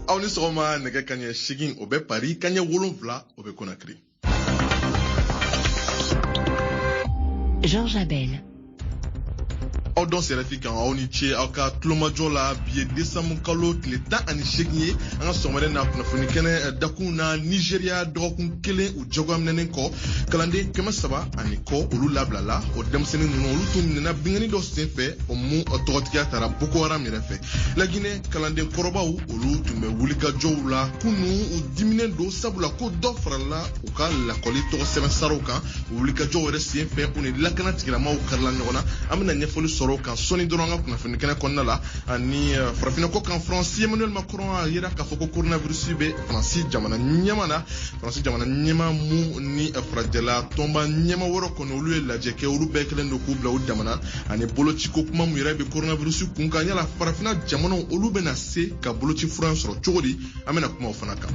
aw ni sɔgɔma nɛgɛ kaɲɛ segin o bɛ pari kaɲɛ wolonfila o bɛ konakiri Georges Abel. aw dansɛ ɛrɛfi kan aw ni ce aw ka tulomajɔ la bi ye desanburu kalo tile tan ani segin ye an ka sɔgɔmada na kunnafoni kɛnɛ eh, dakun na nizeriya dɔgɔkun kelen jagoya minɛnen kɔ kalanden kɛmɛ saba ani kɔ olu labilala o denmisɛnnin ninnu olu tun minɛna bingani dɔ sen fɛ o mu tɔgɔtigiya tara boko haram yɛrɛ fɛ laginɛ kalanden kɔrɔbaw olu tun bɛ wulikajɔw la kunu u diminen don sabula ko dɔ farala u ka lakɔli tɔgɔ sɛbɛn saraw kan wulikajɔw yɛrɛ sen fɛ u ni lakana tigilamaw karila ɲɔgɔn na an bɛna ɲɛfɔli sɔrɔ o kan sɔɔni dɔrɔn an ka kunnafoni kɛnɛ kɔnɔna la ani eh, farafinna kɔkan faransi emmanuel macron a yira k'a fɔ ko coronavirus bɛ faransi jamana ɲɛma na faransi jamana ɲɛma mu ni farajɛla tɔnba ɲɛma wɔɔrɔ kɔni olu ye lajɛ kɛ olu bɛɛ kɛlen don k'u bila u dama na ani bolociko kuma mu yɛrɛ be koronavirusi kun kan yala farafina jamanaw olu bena se ka boloci furan sɔrɔ cogo di an bena kuma o fana kan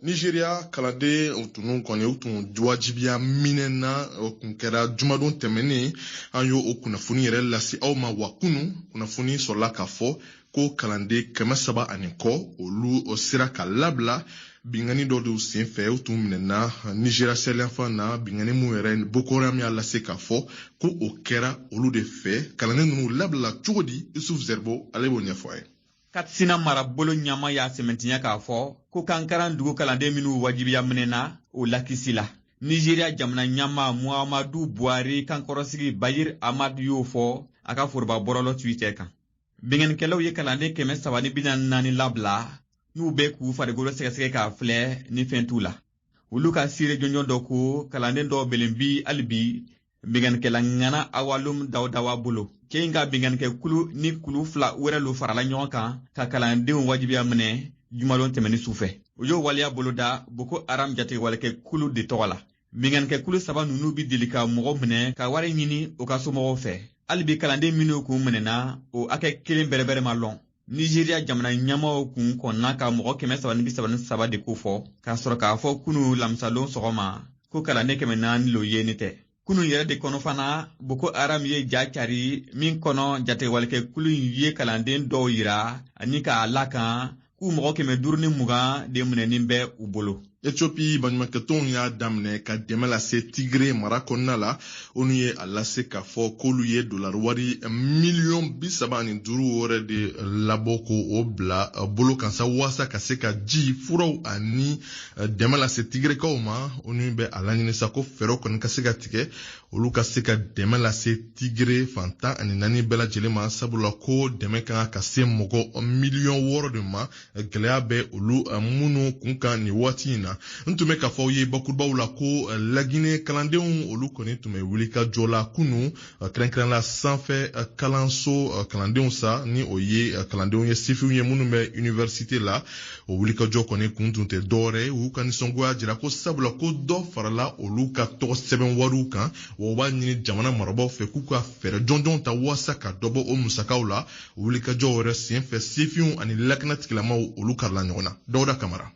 nizeriya kalandenw tun kɔni u tun wajibiya minɛna o tun kɛra jumadon tɛmɛnen an y'o o kunnafoni yɛrɛ lase aw ma wa kunu kunnafoni sɔrɔla k'a fɔ ko kalanden kɛmɛ saba ani kɔ olu sera ka labila bingani dɔ de sen fɛ u tun minɛna nizeriya saheli fan na bingani min yɛrɛ boko haram y'a lase k'a fɔ ko o kɛra olu de fɛ kalanden ninnu labila cogo di isufu zɛribo ale b'o ɲɛfɔ an ye katsina marabolo ɲama y'a sɛmɛntiya k'a fɔ ko kankaran dugu kalanden minw wajibiya minɛna o lakisila nizeriya jamana ɲama muhamadu buhari kankɔrɔsigi bayir amad y'o fɔ a ka foroba bɔrɔlɔ twitter kan binkannikɛlaw ye kalanden kɛmɛ saba ni bi naani labila n'u bɛ k'u farikolo sɛgɛsɛgɛ k'a filɛ ni fɛn t'u la olu ka siire jɔnjɔn dɔ ko kalanden dɔw belen bi hali bi binganikɛla ŋana awalum dawudawa bolo cɛ in ka binganikɛ kulu ni kulu fila wɛrɛ lo farala ɲɔgɔn kan ka kalandenw wajibiya minɛ jumalon tɛmɛnin sufɛ u y'o waleya boloda boko haram jatigɛwalekɛ kulu de tɔgɔ la binganikɛ kulu saba ninnu bi deli ka mɔgɔ minɛ ka wari ɲini u ka somɔgɔw fɛ hali bi kalanden minnu kun minɛna o hakɛ kelen bɛrɛbɛrɛ ma lɔn nizeriya jamana ɲɛmaw kun kɔnna ka mɔgɔ kɛmɛ saba ni bi saba ni saba de kofɔ ka sɔrɔ k'a fɔ kunu lamisalon sɔgɔma ko kalanden kɛmɛ naani lo yenin tɛ kunu yɛrɛ de kɔnɔ fana boko haram ye ja cari min kɔnɔ jatigɛwalekɛ kulu in ye kalanden dɔw yira ani k'a la kan ko mɔgɔ kɛmɛ duuru ni mugan de minɛnin bɛ u bolo Ethiopie baɲumankɛtɔnw y'a daminɛ ka dɛmɛ lase Tigre mara kɔnɔna la ONU ye a lase k'a fɔ k'olu ye dolari wari miliyɔn bi saba ani duuru wɛrɛ de labɔ ko o bila bolo kan sa waasa ka se ka ji furaw ani dɛmɛ lase Tigrekaw ma ONU bɛ a laɲini sa ko fɛɛrɛ kɔni ka se ka tigɛ olu ka se ka dɛmɛ lase Tigre fan tan ani naani bɛɛ lajɛlen ma sabula ko dɛmɛ ka kan ka se mɔgɔ miliyɔn wɔɔrɔ de ma gɛlɛya bɛ olu eh, minnu kun kan nin waati in na n tun bɛ k'a fɔ aw ye bakurubaw la ko eh, laginɛ kalandenw olu kɔni tun bɛ wulikajɔ la kunu eh, kɛrɛnkɛrɛnla sanfɛ kalanso kalandenw sa ni o ye kalandenw ye sifinw ye minnu bɛ universite la o wulikajɔ kɔni kun tun tɛ dɔwɛrɛ ye u ka nisɔngoya jira ko sabula ko dɔ farala olu ka tɔgɔsɛbɛn wariw kan wa u b'a ɲini jamana marabaaw fɛ k'u ka fɛɛrɛ jɔnjɔnw ta waasa ka dɔ bɔ o musakaw la wulikajɔ wɛrɛ sen fɛ sifinw ani lakana tigilamaw olu karila ɲɔgɔn na dawuda kamara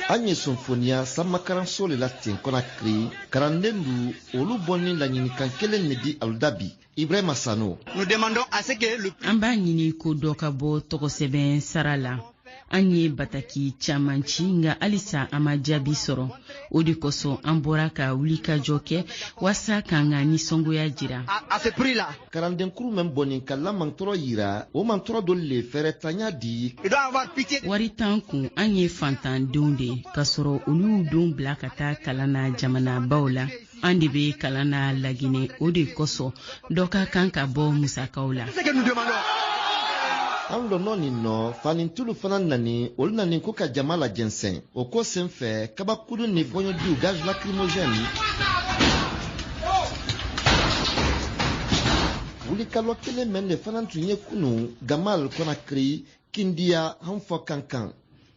an ye sonfoniya sanmakaranso le la ten kɔnakiri karanden du olu bɔni laɲinikan kelen ne di alu da bi ibrahima sano an b'a ɲini ko dɔ ka bɔ tɔgɔsɛbɛn sara la an ye bataki caman ci nka halisa an ma jaabi sɔrɔ o de kosɔn an bɔra ka wulikajɔ kɛ waasa k'an ka nisɔngoya jira kalandenkuru mɛn bɔni k'a la mantɔrɔ yira o mantɔrɔ dɔ le fɛɛrɛtanya di wari t'an kun an ye fantandenw de ye k'a sɔrɔ olu y'u denw bila ka taa kalan na jamanabaw la an de bɛ kalan na laginɛ o de kosɔn dɔ ka kan ka bɔ musakaw la an lɔnɔ nin nɔ fanintii lu fana nani olu nani ko ka jama lajɛnsɛn o ko sen fɛ kabakudu ni fɔɲɔjuu gaz lacrymogène wulikalɔ kelen mɛn de fana tun ye kunun gamal kɔnakiri kindiya han fɔ kankan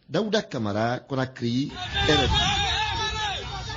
dawuda kamara kɔnakiri rfi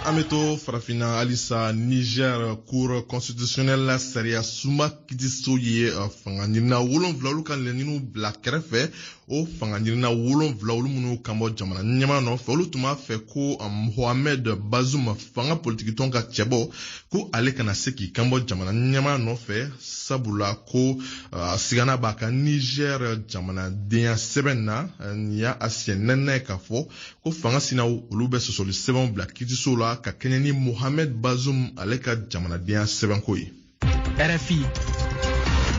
an bɛ to farafinna halisa niger cour constitutionnelle la sariyasunba kitiso ye eh, fanga ɲinina wolonwula olu ka laɲiniw bila kɛrɛfɛ o fanga ɲinina wolonwula olu minnu kanbɔ jamana ɲɛmaa nɔfɛ olu tun b'a fɛ ko eh, mohamed bazoum fanga politikitɔn ka cɛbɔ ko ale kana se k'i kanbɔ jamana ɲɛmaa nɔfɛ sabula ko uh, sigana b'a ka niger jamanadenya sɛbɛn na nin y'a siɲɛ nɛnɛ k'a fɔ ko fanga sinaw olu bɛ sɔsɔli sɛbɛnw bila kitiso la ka kɛɲɛ ni mohamed bazum ale ka jamanadenya sɛbɛnko ye rfi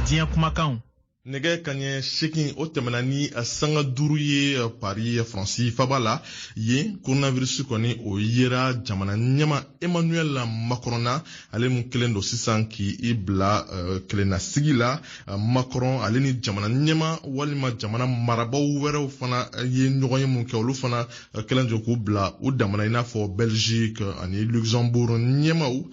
diɲɛ kumakanw nɛgɛ kaɲɛ seegin o tɛmɛna ni sanga duuru ye pari faransi faba la yen koronavirisi kɔni o yera jamana ɲɛma emmanuel macron na ale min kɛlen don sisan k'i bila kelennasigi la macron ale ni jamana ɲɛma walima jamana marabaw wɛrɛw fana ye ɲɔgɔnye mun kɛ olu fana kɛlen don k'u bila u damana i n'a fɔ belgique ani luxembourg ɲɛmaw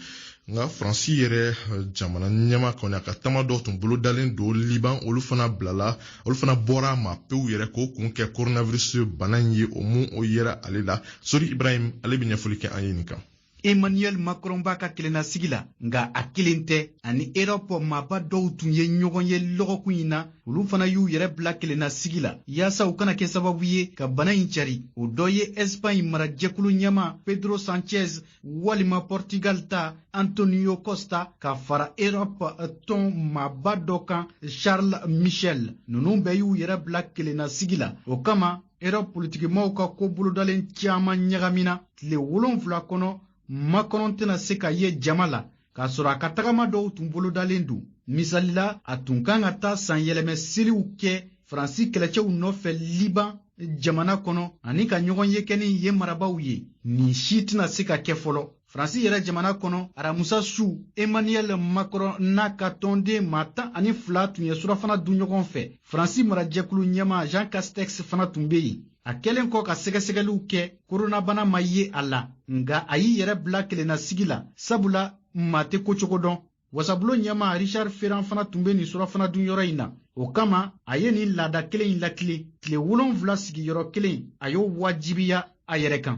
nka faransi yɛrɛ eh, jamana ɲɛma kɔni a ka tama dɔ tun bolodalen don liban olu fana bilala olu fana bɔra a ma pewu yɛrɛ k'o kun kɛ coronavirus bana in ye o mun o yera ale la sori ibrahim ale bɛ ɲɛfɔli kɛ an ye nin kan emmanuel macron b'a ka kelennasigi la nka a kelen tɛ ani erɔpu maaba dɔw tun ye ɲɔgɔn ye lɔgɔkun in na olu fana y'u yɛrɛ bila kelennasigi la yaasa u kana kɛ sababu ye ka bana in cari o dɔ ye ɛsipaɲi marajɛkulu ɲɛma pedro sanchez walima Portugal ta Antonio Costa ka fara Europe tɔn maaba dɔ kan Charles Michel ninnu bɛɛ y'u yɛrɛ bila kelenna sigi la o kama Europe politikimaaw ka ko bolodalen caman ɲagamina tile wolonfila kɔnɔ Macron tɛna se ka ye jama la k'a sɔrɔ a ka tagama dɔw tun bolodalen don misali la a tun kan ka taa sanyɛlɛmɛ seliw kɛ faransi kɛlɛcɛw nɔfɛ liban jamana kɔnɔ ani ka ɲɔgɔnye kɛ ni yen marabaw ye nin si tɛna se ka kɛ fɔlɔ faransi yɛrɛ jamana kɔnɔ aramusa su emmanuel macron n'a ka tɔnden maa tan ani fila tun ye surafana dun ɲɔgɔn fɛ faransi marajɛkulu ɲɛma jean castex fana tun bɛ yen a kɛlen kɔ ka sɛgɛsɛgɛliw kɛ koronabana ma ye a la nga a y'i yɛrɛ bila kelennasigi la sabula maa tɛ kocogo dɔn wasabulo ɲɛma richard ferrand fana tun bɛ nin surafana dunyɔrɔ in na o kama a ye nin laada kelen in lakilen tile wolonfila sigiyɔrɔ kelen a y'o wajibiya a yɛrɛ kan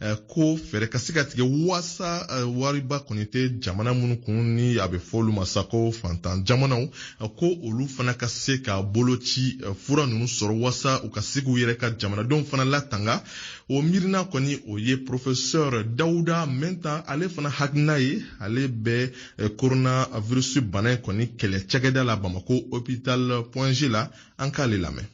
Eh, ko fɛɛrɛ ka se ka tigɛ waasa eh, wariba kɔni tɛ jamana minnu kun ni a bɛ fɔ olu ma sa ko fantan jamanaw eh, ko olu fana ka se ka boloci fura ninnu sɔrɔ waasa u ka se k'u yɛrɛ ka jamanadenw fana latanga o miirina kɔni o ye professeur dawuda minta ale fana hakilina ye ale bɛ coronavirus bana in kɔni kɛlɛ cakɛda la bamako hopital point g la an k'ale lamɛn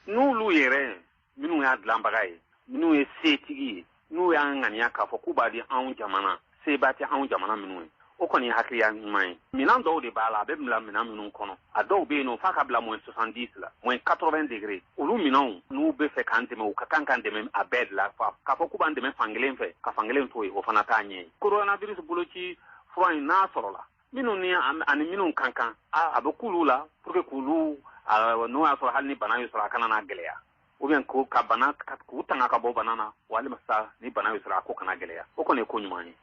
n'olu yɛrɛ minnu y'a dilanbaga ye minnu ye setigi ye n'u y'a ŋaniya k'a fɔ k'u b'a di anw jamana seba tɛ anw jamana minnu ye o kɔni ye hakiliya ɲuman ye minɛn dɔw de b'a la a bɛ bila minɛn minnu kɔnɔ a dɔw bɛ yen nɔ f'a ka bila moins soixante-dix la moins quatre-vingts degrés olu minɛnw n'u bɛ fɛ k'an dɛmɛ u ka kan k'an dɛmɛ a bɛɛ de la k'a fɔ k'u b'an dɛmɛ fankelen fɛ ka fankelen to yen o fana t'a ɲɛ ye koronavirisi boloci fura in n'a sɔrɔla minnu ni ani minnu ka kan a bɛ k'olu la pour que k'olu n'o y'a sɔrɔ hali ni bana y'u sɔrɔ a kana na gɛlɛya ou bien ko ka bana k'u tanga ka bɔ bana na walima sa ni bana y'u sɔrɔ a ko kana gɛlɛya o kɔni ye ko ɲuman ye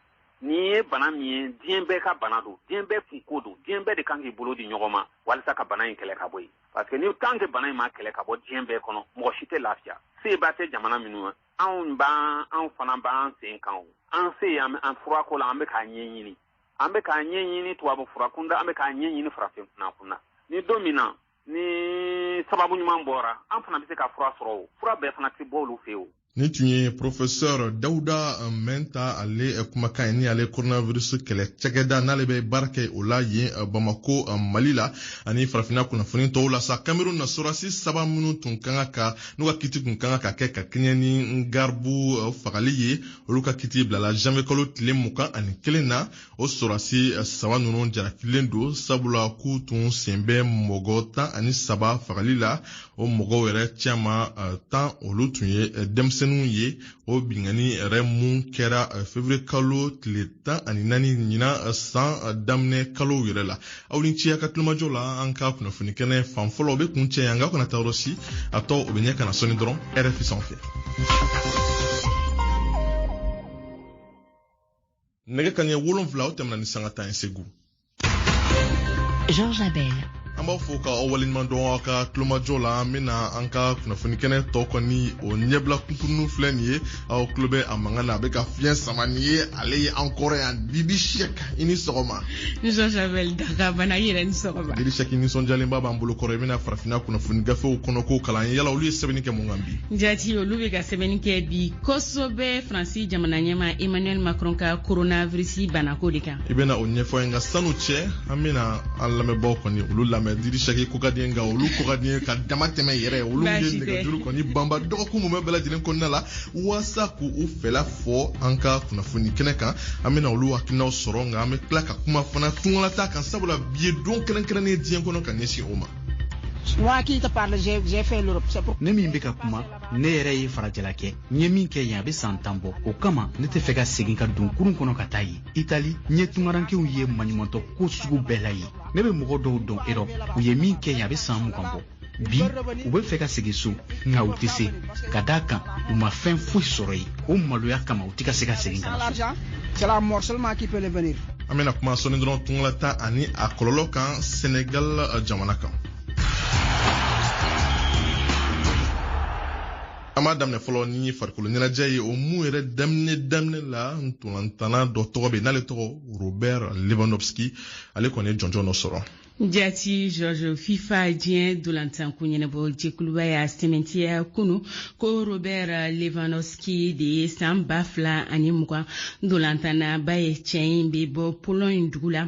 nin ye bana min ye diɲɛ bɛɛ ka bana don diɲɛ bɛɛ kunko don diɲɛ bɛɛ de kan k'i bolo di ɲɔgɔn ma walisa ka bana in kɛlɛ ka bɔ yen parce que ni tant que bana in ma kɛlɛ ka bɔ diɲɛ bɛɛ kɔnɔ mɔgɔ si tɛ lafiya seba tɛ jamana minnu na anw b'an anw fana b'an sen kan o an se an furako la an bɛ k'a ɲɛɲini an bɛ k'a ɲɛɲini tubabu furakunda an bɛ k'a ɲɛɲini farafin furakunda ni don min na ni sababu ɲuman bɔra an fana bɛ se ka fura sɔrɔ o fura bɛɛ fana tɛ bɔ olu fɛ yen nin tun ye professeur dawuda minta ale eh, kumakan ye ni ale coronavirus kɛlɛ cakɛda n'ale bɛ baara kɛ o la yen eh, bamako eh, mali la ani farafina kunnafoni tɔw la sa cameroun na sorasi saba minnu tun ka kan ka n'u ka kiti tun ka kan ka kɛ ka kɛɲɛ ni ngarbuh fagali ye olu ka kiti bilala janvier kalo tile mugan ani kelen na o sorasi eh, saba ninnu jarakilen don sabula k'u tun sen bɛ mɔgɔ tan ani saba fagali la o mɔgɔw yɛrɛ caman eh, tan olu tun ye eh, denmisɛnninw ye o binkanni yɛrɛ mun kɛra fevrier kalo tile tan ani naani ɲinan san daminɛ kalow yɛrɛ la aw ni ce a ka tulomajɔ la an ka kunnafoni kɛnɛ fan fɔlɔ o be kuncɛ yan nka kana taa yɔrɔ si a tɔ o be ɲɛ ka na sɔni dɔrɔn rfi sanfɛ nɛgɛ kanɲɛ wolonfila o tɛmɛna ni sanga tan ye segu Georges Abel. an b'a fɔ ka aw waleɲuman dɔn aw ka tulomajɔ la an bena an ka kunnafoni kɛnɛ tɔ kɔni o ɲɛbila kunkurunw filɛ nin ye aw tulo bɛ a mankan na a bɛ ka fiɲɛ sama nin ye ale ye an kɔrɔ yan didi sɛk i ni sɔgɔma Georges Abel daga bana i yɛrɛ ni sɔgɔma didi sɛk nisɔndiyalenba b'an bolo kɔrɔ i bɛna farafinna kunnafoni gafew kɔnɔko kalan yala olu ye sɛbɛnni kɛ mun kan bi jati olu bɛ ka sɛbɛnni kɛ bi kosɛbɛ faransi jamana ɲɛmaa emmanuel macron ka coronavirus banako de kan i bɛna o ɲɛfɔ ye nka sani o cɛ an bɛna an lamɛnbaaw kɔni olu lamɛn didi sɛk ko ka di n ye nka olu ko ka di n ye ka dama tɛmɛ yɛrɛ olu ye nɛgɛjuru kɔni banba dɔgɔkun mumɛ bɛɛ lajɛlen kɔnɔna la walasa k'u fɛla fɔ an ka kunnafoni kɛnɛ kan an bɛna olu hakilinaw sɔrɔ nka an bɛ tila ka kuma fana tungalataa kan sabula bi ye don kɛrɛnkɛrɛnnen diɲɛ kɔnɔ ka ɲɛsin o ma. Moi qui te parle, j'ai fait l'Europe. Ne min bɛ ka kuma ne yɛrɛ ye farajɛla kɛ n ye min kɛ yen a bɛ san tan bɔ o kama ne tɛ fɛ ka segin ka don kurun kɔnɔ ka taa yen itali n ye tungarankew ye maɲumantɔ ko sugu bɛɛ la yen ne bɛ mɔgɔ dɔw dɔn erɔp u ye min kɛ yen a bɛ san mugan bɔ bi u bɛ fɛ ka segin so nka u tɛ se ka d'a kan u ma fɛn foyi sɔrɔ yen o maloya kama u tɛ ka se ka segin ka na so an bɛna kuma sɔnni dɔrɔn tungalataa ani a kɔlɔlɔ kan senegal jamana kan an b'a daminɛ fɔlɔ ni farikolo ɲɛnajɛ ye o mun yɛrɛ daminɛ daminɛ la ntolantana dɔ tɔgɔ bɛ n'ale tɔgɔ robert lewandowski ale kɔni ye jɔnjɔn dɔ sɔrɔ Jati George FIFA diɲɛ dolantanko ɲɛnabɔ jɛkuluba y'a sɛmɛntiya kunu ko Robert Lewandowski de ye san ba fila ani mugan dolantanaba ye cɛ in bɛ bɔ Pologne dugu la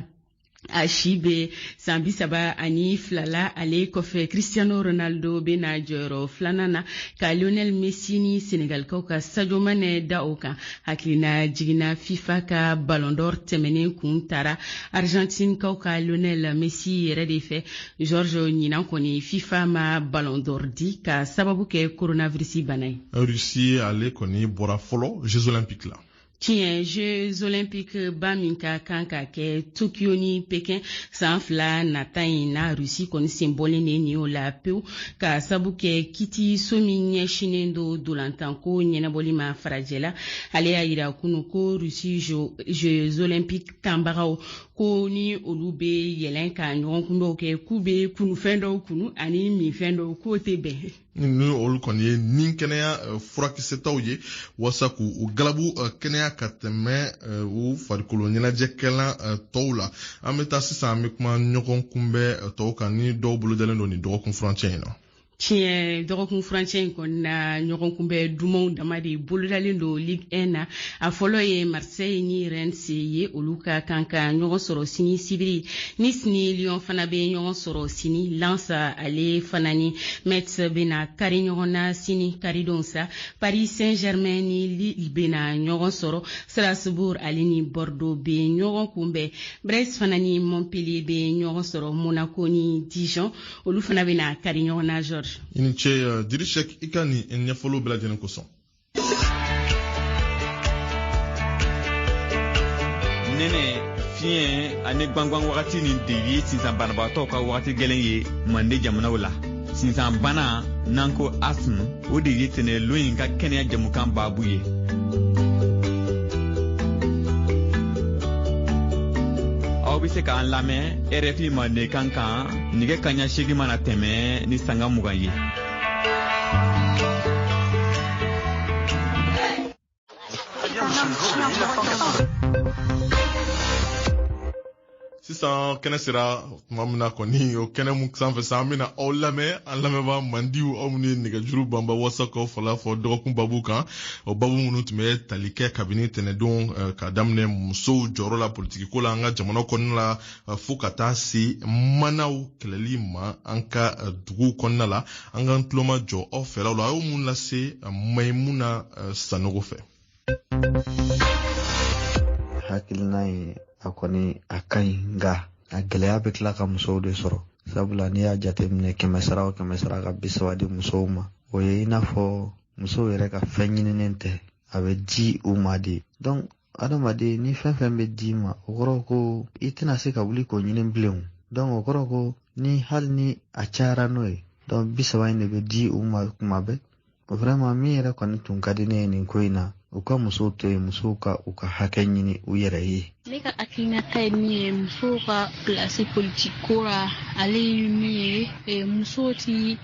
a si bɛ san bi saba ani fila la ale kɔfɛ cristiano ronaldo bɛ na jɔyɔrɔ filanan na ka lionel messi ni senegalikaw ka sadio mane da o kan hakilinajigin na fifa ka ballon d'or tɛmɛnen kun taara argentinekaw ka lionel messi yɛrɛ de fɛ george ɲinan kɔni fifa ma ballon d'or di ka sababu kɛ coronavirus bana ye russie ale kɔni bɔra fɔlɔ jeux olympiques la tiɲɛ jeux olympique ba min ka kan ka kɛ tokyo ni pekin san fila nata in na rusi kɔni sen bɔlen de nin o la pewu ka sabu kɛ kiti so min ɲɛsinnen don dolantanko ɲɛnabɔli ma farajɛla ale y'a yira kunu ko rusi jeux olympique taabagaw ko ni olu be yɛlɛn ka ɲɔgɔn kunbɛw kɛ k'u be kunufɛn dɔw kunu ani minfɛn dɔw k'o tɛ bɛn ni olu kɔni ye nin kɛnɛya eh, furakisɛtaw ye walasa k'u u galabu eh, kɛnɛya ka tɛmɛ eh, u farikolo ɲɛnajɛkɛlan tɔw la an bɛ taa sisan an bɛ kuma ɲɔgɔn kunbɛ tɔw kan ni dɔw bolodalen don nin dɔgɔkun furancɛ in na tiɲɛ dɔgɔkun furancɛ in kɔni na ɲɔgɔn kunbɛ dumanw dama de bolodalen don ligue 1 na a fɔlɔ ye seille ni reims ye olu ka kan ka ɲɔgɔn sɔrɔ sini sibiri nice ni lyon fana bɛ ɲɔgɔn sɔrɔ sini lens ale fana ni mets bɛna kari ɲɔgɔn na sini karidon sa paris saint germain ni lille bɛna ɲɔgɔn sɔrɔ strasbourg ale ni bordeaux bɛ ɲɔgɔn kunbɛn brest fana ni montpellier bɛ ɲɔgɔn sɔrɔ monaco ni dijon olu fana bɛna kari ɲɔgɔn na george i ni ce uh, dirishek i ka nin ɲɛfɔliw bɛɛ lajɛlen kosɔn nɛnɛ fiɲɛ ani gwangwan wagati nin de ye sinsan banabagatɔw ka wagati gɛlɛn ye mande jamanaw la sinsan bana n'an ko asthme o de ye tɛnɛlon in ka kɛnɛya jamukan baabu ye aw bɛ se k'an lamɛn rfi mandenkan kan nɛgɛ kanɲɛ seegin mana tɛmɛ ni sanga mugan ye sisan kɛnɛ sera tuma min na kɔni o kɛnɛ mun sanfɛ sa an bɛna aw lamɛn an lamɛnbaa mandiw aw minnu ye nɛgɛjuru banba wasa k'aw fɛla fɔ dɔgɔkun babu kan o babu minnu tun bɛ tali kɛ kabini tɛnɛdon eh, ka daminɛ musow jɔyɔrɔ la politikiko la an ka jamana kɔnɔna la Eh, fo ka taa se manaw kɛlɛli ma an ka eh, dugu kɔnɔna la an k'an tulomajɔ aw fɛlaw la a y'o mun lase eh, mayimuna sanogo fɛ hakilina ye a kɔni a ka ɲi nka a gɛlɛya bɛ tila ka musow de sɔrɔ sabula n'i y'a jateminɛ kɛmɛ sara o kɛmɛ sara ka bi saba di musow ma o ye i n'a fɔ musow yɛrɛ ka fɛn ɲininen tɛ a bɛ di u ma de adamaden ni fɛn fɛn bɛ d'i ma o kɔrɔ ko i tɛna se ka wuli k'o ɲini bilen donc o kɔrɔ ko ni hali ni a cayara n'o ye donc bi saba in de bɛ di u ma tuma bɛɛ vraiment min yɛrɛ kɔni tun ka di ne ye nin ko in na u ka musow to yen musow ka u ka hakɛ ɲini u yɛrɛ ye ne ka hakilinata ye min ye musow ka pilasi politiki ko ra ale ye min ye eh, musow ti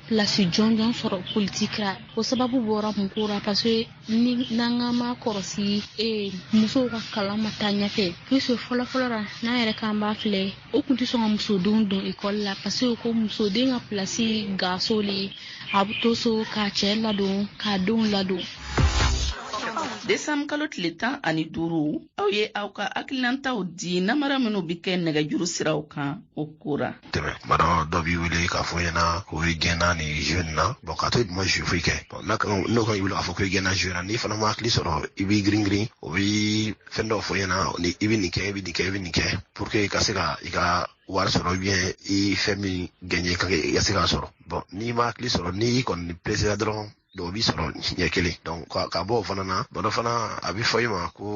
pilasi jɔnjɔn sɔrɔ politiki ra o sababu bɔra mun ko ra parce ni n'an k'an ma kɔlɔsi ee musow ka kalan ma taa ɲɛfɛ puisque fɔlɔ fɔlɔ la n'an yɛrɛ k'an b'a filɛ o tun tɛ sɔn ka musodenw don ekɔli la parce que ko musoden ka pilasi gaso le a bɛ to so k'a cɛ ladon k'a denw ladon desanburu kalo tile tan ani duuru aw ye aw ka hakilinataw di namara minw be kɛ nɛgɛjuru siraw kan o ko ra tɛmɛ tuma dɔ dɔ b'i wele k'a fɔ i ɲɛna ko i gaɲena nin jeu nin na bon k'a to i ma jeu foyi kɛ bon n'o ka i wele k'a fɔ ko i gaɲena jeu nin na n'i fana ma hakili sɔrɔ i b'i girin girin o bɛ fɛn dɔ fɔ i ɲɛna ni i bɛ nin kɛ i bɛ nin kɛ i bɛ nin kɛ pour que i ka se ka i ka wari sɔrɔ ou bien i fɛn min gagner ka i ka se k'a sɔrɔ bon n'i ma hakili sɔrɔ n'i kɔni presera dɔrɔn dɔw b'i sɔrɔ ɲɛ kelen ka bɔ o fana na dɔ fana a bɛ fɔ i ma ko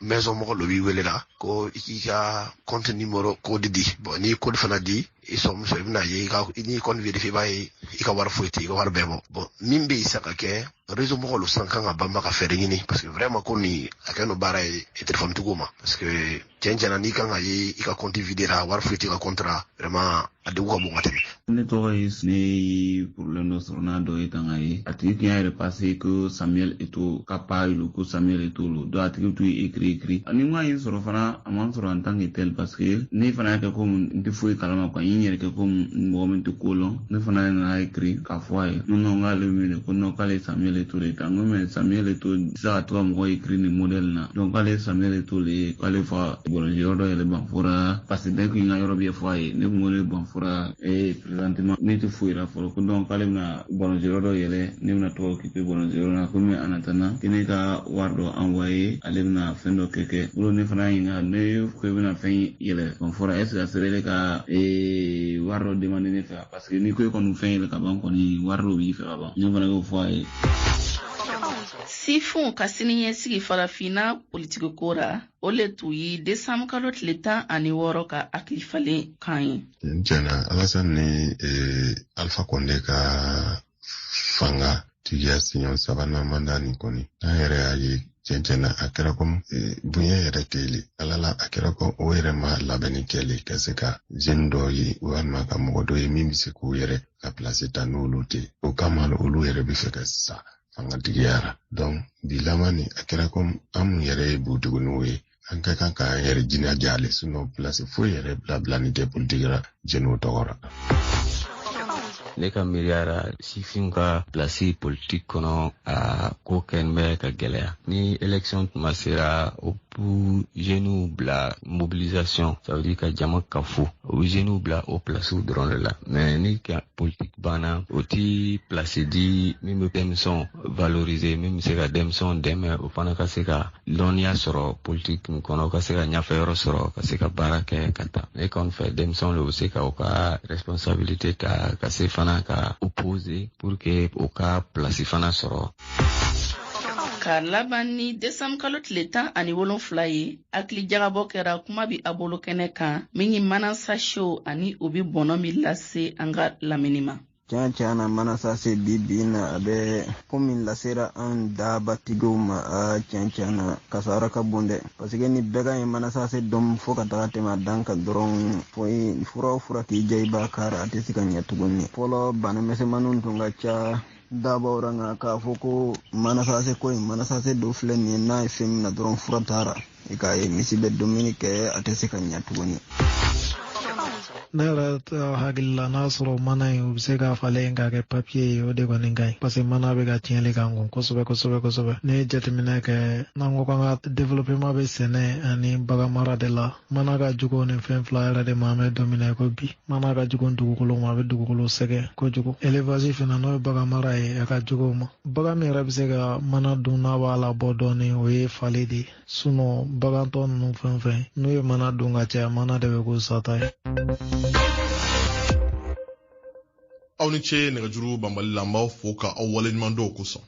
maison mɔgɔ dɔ b'i wele la ko i k'i ka compte numéro code di bon n'i code fana di i sɔrɔmuso i bɛna ye n'i ka compte vérifier i b'a ye i ka wari foyi tɛ i ka wari bɛɛ bɔ bon min bɛ yen sa ka kɛ réseau mɔgɔ lo san kan ka banba ka fɛɛrɛ ɲini parce que vraiment ko nin a kɛ n'o baara ye telefɔni tigiw ma parce que cɛn cɛn na n'i ka n'a ye i ka kɔnti videra wari foyi tɛ i ka kɔnti ra vraiment a degun ka bon ka tɛmɛ ne tɔgɔ ye ne ye problème dɔ sɔrɔ n'a dɔ ye kan ka ye a tigi tun y'a yɛrɛ pase ko samuel eto'o ka page lo ko samuel eto'o lo donc a tigi tun ye ekiri ekiri ne ma i y'a sɔrɔ fana a ma n sɔrɔ en tant que tel parce que ne fana y'a kɛ ko n tɛ foyi kalama quoi n yɛrɛ kɛ ko mɔgɔ min tɛ ko lɔn ne fana nana ekiri k'a fɔ a ye ko non k'ale wele ko non k'ale samuel eto'o de ta n ko mais samuel eto'o tɛ se ka to ka mɔgɔ ekiri nin modèle na donc k'ale samuel eto'o lo ye k'ale fa balɔnci yɔrɔ dɔ yɛlɛ banfora parce que dès que n ka yɔrɔ bɛ fɔ a ye ne tun ko ne banfora ee présentement ne tɛ foyi la fɔlɔ ko donc k'ale bɛna balɔnci yɔrɔ dɔ yɛlɛ ne bɛna to ka occuper balɔnci yɔrɔ la komi en attendant que ne ka wari dɔ envoyer ale bɛna fɛn dɔ kɛ kɛ o ne fana y'a ɲininka ne ko i bɛna fɛn yɛlɛ banfora est ce que a sera ne ka ee wari dɔ demander ne fɛ parce que n'i ko e kɔni fɛn yɛlɛ ka ban kɔni wari dɔ b'i fɛ ka ban ne fana y'o fɔ a ye Sifinw ka siniɲɛsigi farafinna politikiko ra o le t'u ye desanbu kalo tile tan ani wɔɔrɔ ka hakili falen kan ye cɛnna alasan ni e, alfa kɔnde ka fanga tigiya siɲɛ sabanan manda nin kɔni an yɛrɛ y'a ye cɛncɛnna a kɛra ko e, bonya yɛrɛ tɛli ala la a kɛra ko o yɛrɛ ma labɛnni kɛli ka se ka jɛni dɔ ye walima ka mɔgɔ dɔ ye min bɛ se k'u yɛrɛ ka pilasi ta n'olu tɛ o kama olu yɛrɛ bɛ fɛ ka sa fanga tigiya ra donc bi laban ni a kɛra komi an mun yɛrɛ ye butiginiw ye an ka kan ka an yɛrɛ jinaja le sinɔ pilasi foyi yɛrɛ bila bilanin tɛ politiki ra jɛniw tɔgɔ ra ne ka miiriya ra sifin ka pilasi politiki kɔnɔ a ko kɔni bɛ ka gɛlɛya ni election tuma sera o bɛ jeunes bila mobilisation ça veut dire ka jama kafo o bɛ jeunes bila o plasiw dɔrɔn de la mais ni ka politique banna o ti place di min bɛ denmisɛnw valoriser min bɛ se ka denmisɛnw dɛmɛ o fana ka se ka dɔnniya sɔrɔ politique nin kɔnɔ ka se ka ɲɛfɛ yɔrɔ sɔrɔ ka se ka baara kɛ ka taa ne kɔni fɛ denmisɛnw de bɛ se ka o ka responsabilité ta ka se fana ka opposer pour que o ka place fana sɔrɔ ka laban ni desanbu kalo tile tan ani wolonfila ye hakili jagabɔ kɛra kuma bi a bolo kɛnɛ kan min ye manasasew ani o bi bɔnɔ min lase an ka lamini ma tiɲɛ tiɲɛ na manasase bi bi na a bɛ ko min lasera an daabatigiw ma a tiɲɛ tiɲɛ na kasara ka bon dɛ paseke ni bagan ye manasase dun fo ka taga tɛmɛ a dan kan dɔrɔn fɔ fura o fura k'i diya i b'a k'a ra a tɛ se ka ɲɛ tuguni fɔlɔ bana misɛnmaninw tun ka ca daabaw ra nka k'a fɔ ko manasase ko in manasase dɔ filɛ nin ye n'a ye fɛn minɛ dɔrɔn fura t'a ra i k'a ye misi bɛ dumuni kɛ a tɛ se ka ɲɛ tuguni ne yɛrɛ hakili la n'a sɔrɔ mana in u bɛ se k'a falen k'a kɛ papiye ye o de kɔni ka ɲi parce que mana bɛ ka tiɲɛli k'an kun kosɛbɛ kosɛbɛ kosɛbɛ ne ye jateminɛ kɛ n'an ko k'an ka developema bɛ sɛnɛ ani bagan mara de la mana ka jugu nin fɛn fila yɛrɛ de ma an bɛ don min na ko bi mana ka jugu dugukolo ma a bɛ dugukolo sɛgɛn kojugu elevasi fana n'o ye bagan mara ye a ka jugu o ma bagan min yɛrɛ bɛ se ka mana dun n'a b'a labɔ dɔɔni o ye fale de ye sinɔn bagan tɔ ninnu fɛn fɛn n'u ye mana dun ka caya mana de bɛ k'u sata ye aw ni ce nɛgɛjuru banbali la n b'aw fo ka aw waleɲuman dɔn kosɔn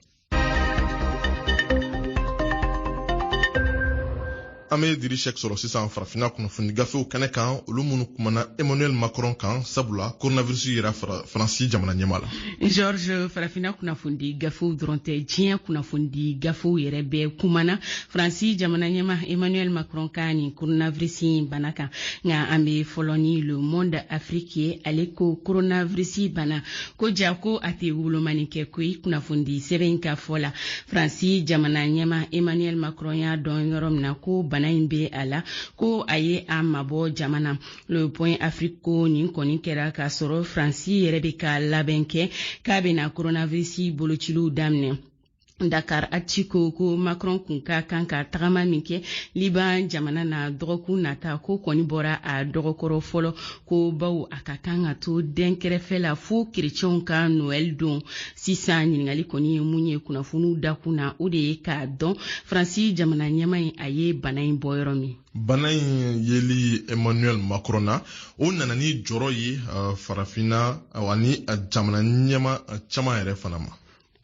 an be diri sɛk sɔrɔ sisan farafina kunnafoni gafew kɛnɛ kan olu minnu kumana emmanuel macron kan sabula coronavirus yera faransi jamana ɲɛmaa la george farafina kunnafoni gafew dɔrɔn tɛ diɲɛ kunnafoni gafew yɛrɛ bɛɛ kumana faransi jamana ɲɛmaa emmanuel macron ka nin coronavirus bana kan nka an be fɔlɔ ni le monde afrique ye ale ko coronavirus bana ko ja ko a tɛ wolomani kɛ koyi kunnafoni sɛbɛn in ka fɔ la faransi jamana ɲɛma emmanuel macron y'a dɔn yɔrɔ min na ko bana in bɛ a la ko a ye a mabɔ jama na le point afrique ko nin kɔni kɛra k'a sɔrɔ faransi yɛrɛ bɛ ka labɛn kɛ k'a bɛna coronavirus bolociliw daminɛ Dakar Actu ko ko Macron kun ka kan ka tagama min kɛ Liban jamana na dɔgɔkun nata k'o kɔni bɔra a dɔgɔkɔrɔ fɔlɔ ko bawo a ka kan ka to denkɛrɛfɛ la fo kerecɛnw ka Noël don sisan ɲininkali kɔni ye min ye kunnafoniw dakun na o de ye k'a dɔn Faransi jamana ɲɛma in a ye bana in bɔ yɔrɔ min bana in yeli emmanuel macron na o nana ni jɔrɔ ye farafinna ani jamana ɲɛma caman yɛrɛ fana ma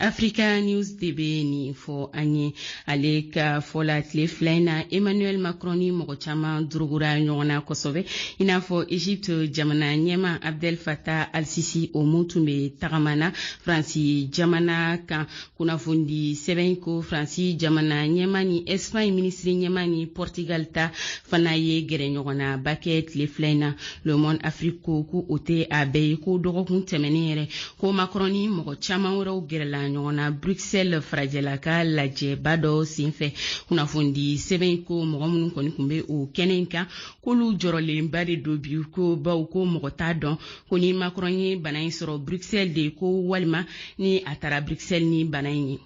africa news de bɛ nin fɔ an ye ale ka fɔ la tile fila in na emmanuel macron ni mɔgɔ caman dorogora ɲɔgɔn na kosɛbɛ i n'a fɔ egypte jamana ɲɛma abdel fattah al-sisi o min tun bɛ tagama na faransi jamana kan kunnafoni sɛbɛn ko faransi jamana ɲɛma ni espagne minisiri ɲɛma ni portugal ta fana ye gɛrɛɲɔgɔnnaba kɛ tile fila in na le monde afrique ko ko o tɛ a bɛɛ ye ko dɔgɔkun tɛmɛnen yɛrɛ ko macron ni mɔgɔ caaman wɛrɛw gɛrɛla ɲɔgɔn na bruxelles farajɛla ka lajɛba dɔ senfɛ kunnafoni sɛbɛn in ko mɔgɔ minnu kɔni tun bɛ o kɛnɛ in kan k'olu jɔrɔlenba de don bi ko bawo ko mɔgɔ t'a dɔn ko ni macron ye bana in sɔrɔ bruxelles de ko walima ni a taara bruxelles ni bana in ye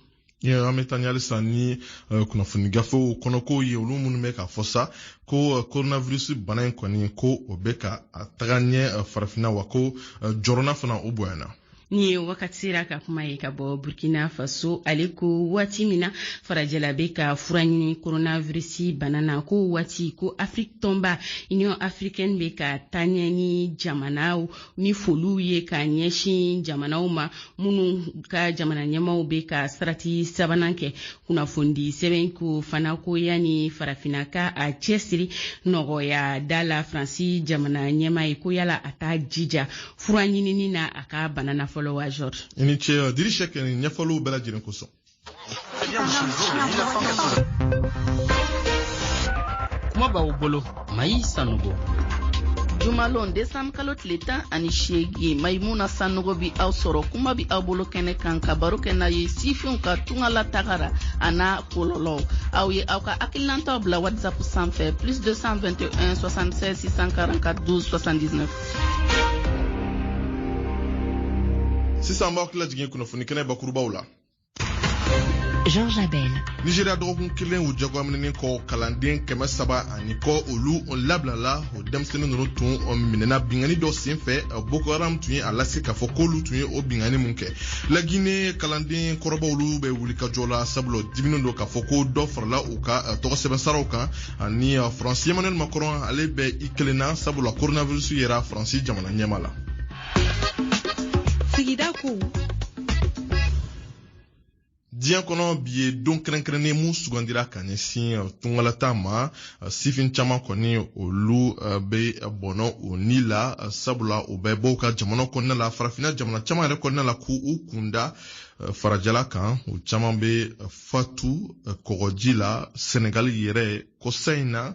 an bɛ taa ni halisa ni eh, kunnafoni gafew kɔnɔkow ye olu minnu bɛ k'a fɔ sa ko eh, coronavirus bana in kɔni ko o bɛ ka taga ɲɛ eh, farafinna wa ko jɔrɔna fana o bonyana nin ye wakat séra ka kuma ye ka bɔ burkina faso ale ko waati min na farajɛla bɛ ka fura ɲini coronavirus bana na k'o waati ko afiriki tɔnba union africaine bɛ ka taa ɲɛ ni jamanaw ni foliw ye ka ɲɛsin jamanaw ma minnu ka jamana ɲɛmaw bɛ ka sarati sabanan kɛ kunnafoni sɛbɛn ko fana ko yanni farafinna ka a cɛsiri nɔgɔya da la faransi jamana ɲɛma ye ko yala a t'a jija fura ɲinini na a ka bana na fɔlɔ wa george i ni ce diri cheick nin ɲɛfɔliw bɛɛ lajɛlen kosɔn kuma b'aw bolo mayi sanogo jumalon desanburu kalo tile tan ani seegin mayimuna sanogo bi aw sɔrɔ kuma b'aw bolo kɛnɛ kan ka baro kɛ n'aw ye sifinw ka tunga la taga ra a n'a kɔlɔlɔw aw ye aw ka hakilinantaw bila whatsapp sanfɛ plus 221 76 644 12 79 sisan b'aw hakili jigin kunnafoni kɛnɛ bakurubaw la Jean Jabel. Nigeria dɔgɔkun kelen u jagoyaminɛnen kɔ kalanden kɛmɛ saba ani kɔ olu labilala o denmisɛnnin ninnu tun minɛna binkanni dɔ senfɛ Boko Haram tun ye a lase k'a fɔ k'olu tun ye o binkanni mun kɛ Lagine kalanden kɔrɔbaw olu bɛ wulikajɔ la sabula diminen don k'a fɔ ko dɔ farala u ka eh, tɔgɔ sɛbɛn saraw kan ani eh, Faransi Emmanuel Macron ale bɛ i kelen na sabula coronavirus yera Faransi jamana ɲɛmaa la. sigida ko diɲɛ kɔnɔ bi ye don kɛrɛnkɛrɛnnen mun sugandira ka ɲɛsin uh, tungalata ma uh, sifin caman kɔni olu uh, bɛ bɔnɔ o ni la sabula u bɛ bɔ u ka jamana kɔnɔna la farafinna jamana caman yɛrɛ kɔnɔna la k'u kunda farajɛla kan u caman bɛ fatu kɔgɔji la sɛnɛgali yɛrɛ kɔsa in na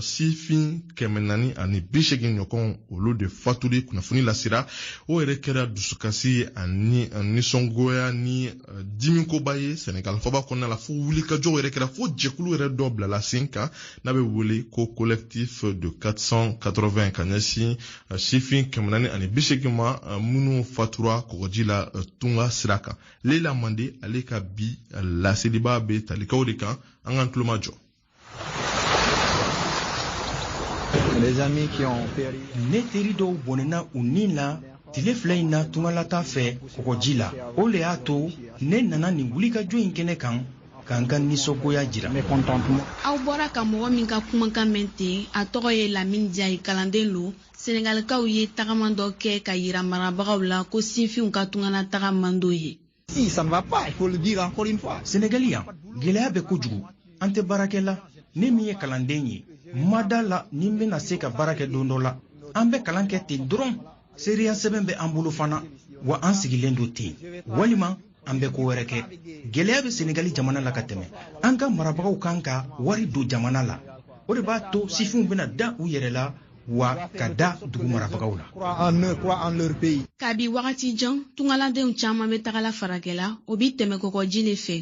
sifin kɛmɛ naani ani bi segin ɲɔgɔn olu de fatuli kunnafoni lasira o yɛrɛ kɛra dusukasi ani nisɔngoya ni eh, dimikoba ye sɛnɛgali faaba kɔnɔna la fo wulikajɔw yɛrɛ kɛra fo jɛkulu yɛrɛ dɔ bilala sen kan n'a bɛ wele ko collectif de 480 ka ɲɛsin eh, sifin kɛmɛ naani ani bi segin ma eh, minnu fatura kɔgɔji la tunga sira kan leila mande ale ka bi laseliba bɛ tali kɛ o de kan an k'an tulomajɔ ne teri dɔw bɔnɛna u ni na tile fila in na tungalata fɛ kɔgɔji la o le y'a to ne nana nin wulikajɔ in kɛnɛ kan ka n ka nisɔngoya jira aw bɔra ka mɔgɔ min ka kumakan mɛn ten a tɔgɔ ye lamini jayi kalanden lo senegalikaw ye tagama dɔ kɛ ka yira marabagaw la ko sinfinw ka tungalataga man d'o ye Sɛnɛgali yan gɛlɛya bɛ kojugu an tɛ baarakɛ la ne min ye kalanden ye n ma da a la ni n bɛna se ka baarakɛ don dɔ la an bɛ kalan kɛ ten dɔrɔn seereya sɛbɛn bɛ an bolo fana wa an sigilen don ten walima an bɛ ko wɛrɛ kɛ gɛlɛya bɛ senegali jamana la ka tɛmɛ an ka marabagaw kan ka wari don jamana la o de b'a to sifinw bɛna da u yɛrɛ la wa ka da dugu marabagaw la kabi wagati jan tungaladenw caaman be tagala farajɛla o be tɛmɛ kɔgɔji le fɛ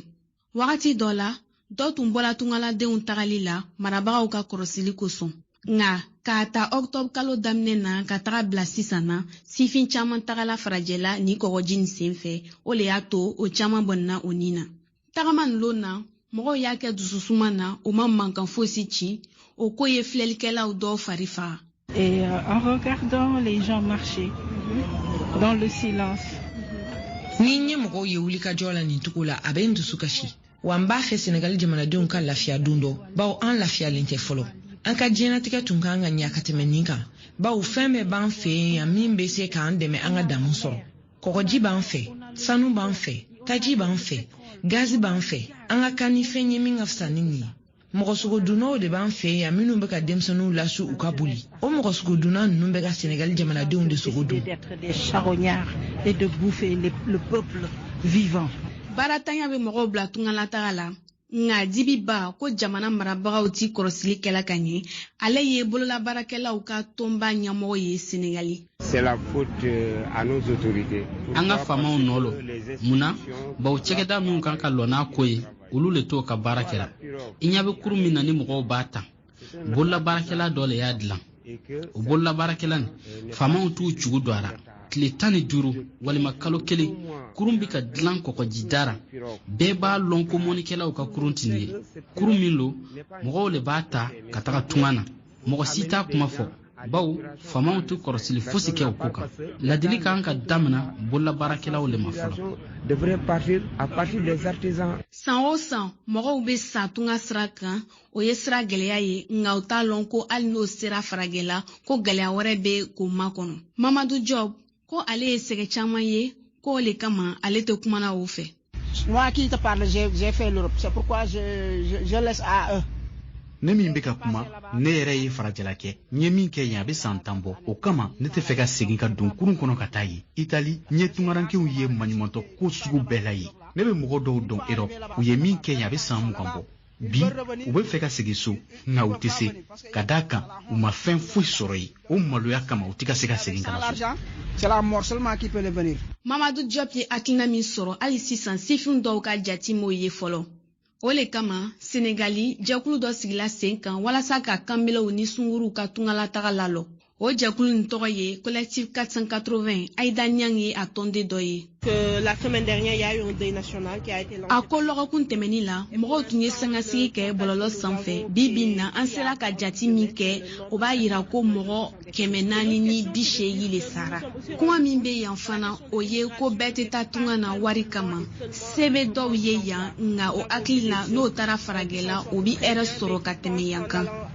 wagati dɔ la dɔ tun bɔla tungaladenw tagali la marabagaw ka kɔrɔsili kosɔn nka k'a ta octobre kalo daminɛ na ka taga bila sisan na sifin caaman tagala farajɛla ni kɔgɔji nin sen fɛ o le y'a to o caaman bɔnɛna o ni na tagama nin lon na mɔgɔw y'a kɛ dususuma na o ma mankan fosi ci o ko ye filɛlikɛlaw dɔw fari faga Et euh, en regardant les gens marcher dans le silence. Ni n ye mɔgɔw ye wulikajɔ la nin cogo la a bɛ n dusu kasi wa n b'a fɛ sɛnɛgali jamanadenw ka lafiya don dɔ bawo an lafiyalen tɛ fɔlɔ an ka diɲɛnatigɛ tun kan ka ɲa ka tɛmɛ nin kan bawo fɛn bɛɛ b'an fɛ yen yan min bɛ se k'an dɛmɛ an ka damu sɔrɔ kɔgɔji b'an fɛ sanu b'an fɛ taji b'an fɛ gazi b'an fɛ an ka kan ni fɛn ye min ka fisa ni nin ye mɔgɔ sogodunnaw de b'an fɛ yan minnu bɛ ka denmisɛnninw lasu u ka boli o mɔgɔ sogodunna ninnu bɛ ka sɛnɛgali jamanadenw de sogo dun baaratanya bɛ mɔgɔw bila tungalataga la nka dibi ba ko jamana marabagaw tɛ kɔrɔsili kɛla ka ɲɛ ale ye bololabaarakɛlaw ka tɔnba ɲɛmɔgɔ ye senegali Euh, an ka faamaw nɔ lo mun na bawo cɛkɛda minnu kan ka lɔ n'a ko ye olu le t'o ka baara kɛra i ɲɛ bɛ kurun min na ni mɔgɔw b'a ta bololabaarakɛla dɔ le y'a dilan o bololabaarakɛla nin faamaw t'u cogo don a la tile tan ni duuru walima kalo kelen kurun bɛ ka dilan kɔgɔji da ra bɛɛ b'a lɔn ko mɔnikɛlaw ka kurun tɛ nin ye kurun min lo mɔgɔw le b'a ta ka taga tunga na mɔgɔ si t'a kuma fɔ bawo faamaw tɛ kɔrɔsili fosi kɛ o ko kan ladili kan ka damina bololabaarakɛlaw le ma fɔlɔ san o san mɔgɔw bɛ sa tunga sira kan o ye sira gɛlɛya ye nka u t'a lɔn ko hali n'o sera faragɛla ko gɛlɛya wɛrɛ bɛ k'o makɔnɔ mamadu jɔp ko ale ye sɛgɛ caman ye ko o le kama ale tɛ kumana o fɛ ne min bɛ ka kuma ne yɛrɛ ye farajɛla kɛ n ye min kɛ yen a bɛ san tan bɔ o kama ne tɛ fɛ ka segin ka don kurun kɔnɔ ka taa yen itali n ye tungarankew ye maɲumantɔ ko sugu bɛɛ la yen ne bɛ mɔgɔ dɔw dɔn erɔp u ye min kɛ yen a bɛ san mugan bɔ bi u bɛ fɛ ka segin so nka u tɛ se ka d'a kan u ma fɛn foyi sɔrɔ yen o maloya kama u tɛ ka se ka segin ka na so mamadu jɔp ye hakilina min sɔrɔ hali sisan sifinw dɔw ka jati m'o ye fɔlɔ o le kama senegali jɛkulu dɔ sigila sen kan walasa ka kanbelew ni sunguruw ka tungalataga lalɔ o jɛkulu nin tɔgɔ ye collectif 480 aida niang ye a tɔnden dɔ ye a ko lɔgɔkun tɛmɛnin la mɔgɔw tun ye sangasigi kɛ bɔlɔlɔ sanfɛ bi bi in na an sera ka jati min kɛ o b'a yira ko mɔgɔ kɛmɛ naani ni bi seegin le sara kuma min bɛ yan fana o ye ko bɛɛ tɛ taa tunga na wari kama se bɛ dɔw ye yan nka o hakili la n'o taara faragɛla o bɛ hɛrɛ sɔrɔ ka tɛmɛ yan kan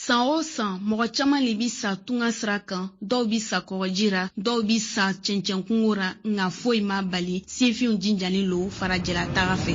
San o san, mɔgɔ caman le bi sa tunga sira kan, dɔw bi sa kɔgɔji ra, dɔw bi sa cɛncɛnkungo ra, nka foyi m'a bali sifinw jinjalen lo farajɛlataga fɛ.